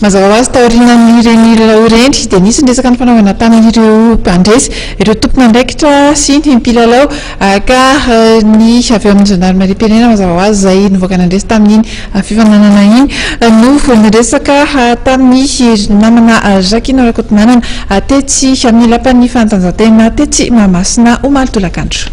Mazava ho azy, taorian'ireny lalao ireny dia nisy ny resaka nifanaovana tamin'ireo mpandresy, ireo tompon'andraikitra sy ny mpilalao ka ny avy ao amin'ny zandarimariam-pirenena mazava ho azy izay nivoaka nandresy tamin'iny fifaninanana iny no niresaka tamin'ny namana Jacquina Rakotonanana tetsy amin'ny lapan'ny fanatanjahantena tetsy Mahamasina omaly tolakandro.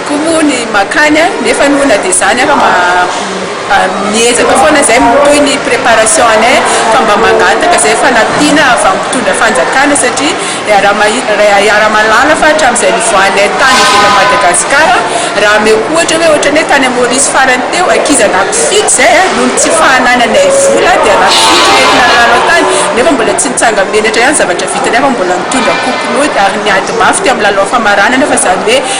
Koa moa ny makany nefa aloha na dia izany ara miezaka foana izay mitohy ny préparation anay fa mba mangataka izay fanampiana avy amin'ny mpitondra fanjakana satria iaraha mahalala fa hatramin'izay nivoahanay tany ivelan'i Madagasikara raha ameo ohatra hoe ohatran'ny hoe tany Maurice farany teo ankizy anakifidy izay noho ny tsy fahanananay vola dia anakifidy no entina nilalao tany nefa mbola tsy nitsanga menatra ihany zavatra vitanay fa mbola nitondra kompinaody ary niady mafy teo amin'ny lalao famaranana fa izany hoe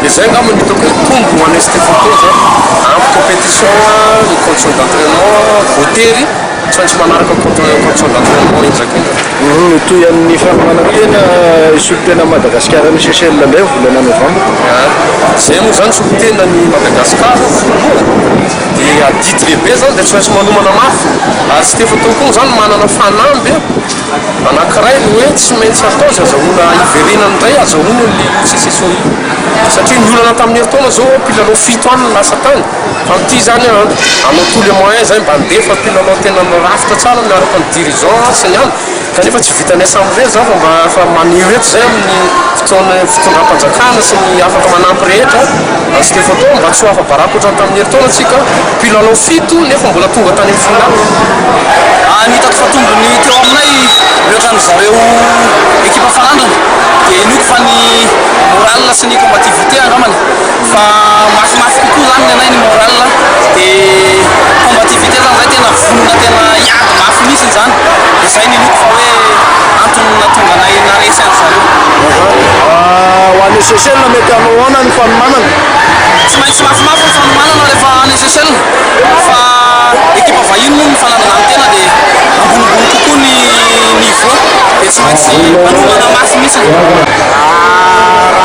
Dia izay angamba no hitako hoe tombony ho an'ny ST Photo izao, ampy competition ny conditions d'entrainement, voatery tsy maintsy manaraka conditions d'entrainement indraika indraika. Mitohy amin'ny fanomanantena hisolotena an'i Madagasikara any Seychelles indray amin'ny volana novambra. Izay moa izany hisolotena an'i Madagasikara voalohany dia adidy lehibe izany dia tsy maintsy manomana mafy ary ST Photo koa moa izany manana fanamby. Anankiray ny hoe tsy maintsy atao izay azahoana hiverenany indray hazahoana an'i Liu Cicesoni satria niolana tamin'ny herintaona izao ireo mpilalao fito any lasa tany fa amin'ity izany hanao tous les moyens izay mba handefa mpilalao tena mirafitra tsara miaraka amin'ny dirigeants sy ny any kanefa tsy vitan'ny assemblée izany fa mba efa maneho eto izay amin'ny fotoan'ny fitondram-panjakana sy ny afaka manampy rehetra an'i Stefano mba tsy ho afa-baraka ohatran'ny tamin'ny herintaona tsika Mpilalao fito nefa mbola tonga tany amin'ny finale. Raha ny hitako fa tombony teo aminay mihoatra ny zareo ekipa faranana dia inoako fa ny morale sy ny combativité angambany fa mafimafy kokoa zany nenay ny morale dia combativité zany zay tena vonona tena hiady mafy mihitsy izany dia zay no inoako fa hoe antony nahatonga anay naharesy an'zareo. Ahaa, ho an'i Seychelles mety hanao ahoana ny fanomanana? Tsy maintsy mafimafy ny fanomanana rehefa any Seychelles fa ekipa vahiny moa ny fanandrana ny tena dia ambonimbony kokoa ny niveau dia tsy maintsy manomana mafy mihitsy raha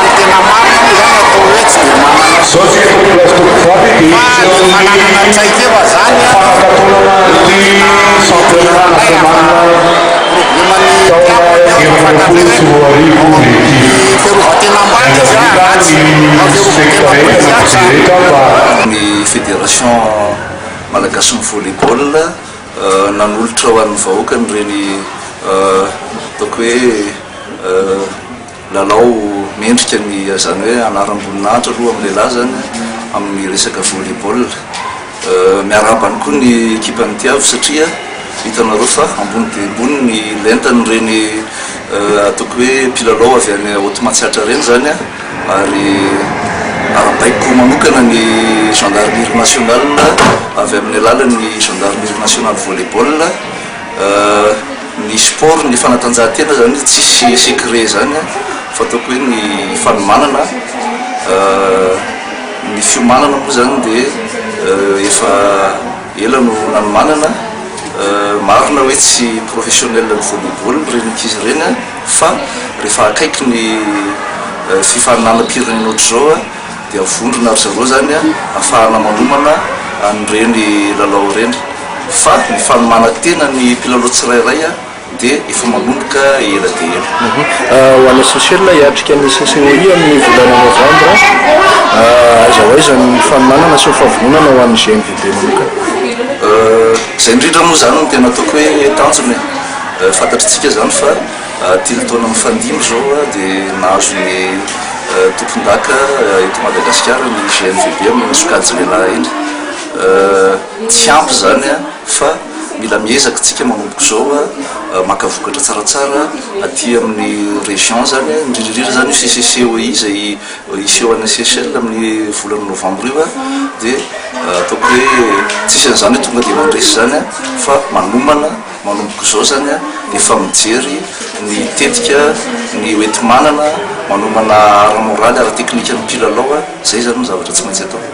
ny tena marina moa izany atao hoe tsy dia manana soucis fa ny fananana traikefa izany no tena ilaina raha Taona efapolo sy roa arivo Objectif, Miangavia ny spektra rehetra na mpijereta fa. Ny Fédération malagasin'ny Volley Ball nanolotra ho an'ny vahoaka an'ireny ataoko hoe. Lalao mendrika ny izany hoe anaram-boninahitra aloha amin'ny lehilahy izany an, amin'ny resaka volley ball. Miarahaba any koa ny ekipan'ny Tiavo satria hitanareo fa ambony dia ambony ny lentan'ireny ataoko hoe mpilalao avy any Haute Matsiatra ireny izany an, ary arabaiko manokana ny Gendarmerie Nationale avy amin'ny alalan'ny Gendarmerie Nationale Volley Ball. Ny sport ny fanatanjahantena zany tsisy secret zany an, fataoko hoe ny fanomanana ny fiomanana moa zany de efa ela no nanomanana marina hoe tsy professionnel ny volley ball ny renin'ankizy ireny an fa rehefa akaiky ny fifaninanam-pirenena ohatr'izao an dia vondrona ry zareo izany ahafahana manomana an'ireny lalao ireny fa ny fanomana tena ny mpilalao tsirairay dia efa manomboka ela dia ela. Ho any Seychelles hiatrika ny CCOI amin'ny volana Novambra, aiza ho aiza ny fanomanana sy ny fahavononana ho an'ny GMVB manokana? Izay indrindra moa izany no tena ataoko hoe tanjona e! Fantatr'itsika izany fa. Telo taona mifandimby izao dia nahazo ny tompondaka eto Madagasikara ny GNVB amin'iny sokajy lehilahy iny. Tsy ampy izany fa mila miezaka isika manomboka izao maka vokatra tsaratsara aty amin'ny région izany, indrindra indrindra izany io CCCOI izay hiseho any Seychelles amin'ny volana novambra io dia ataoko hoe tsy isan'izany hoe tonga dia mandresy izany fa manomana. Manomboka izao izany ny efa mijery ny tetika ny hoenti-manana manomana ara-moraly, ara-teknika ny mpilalao, izay izany no zavatra tsy maintsy atao.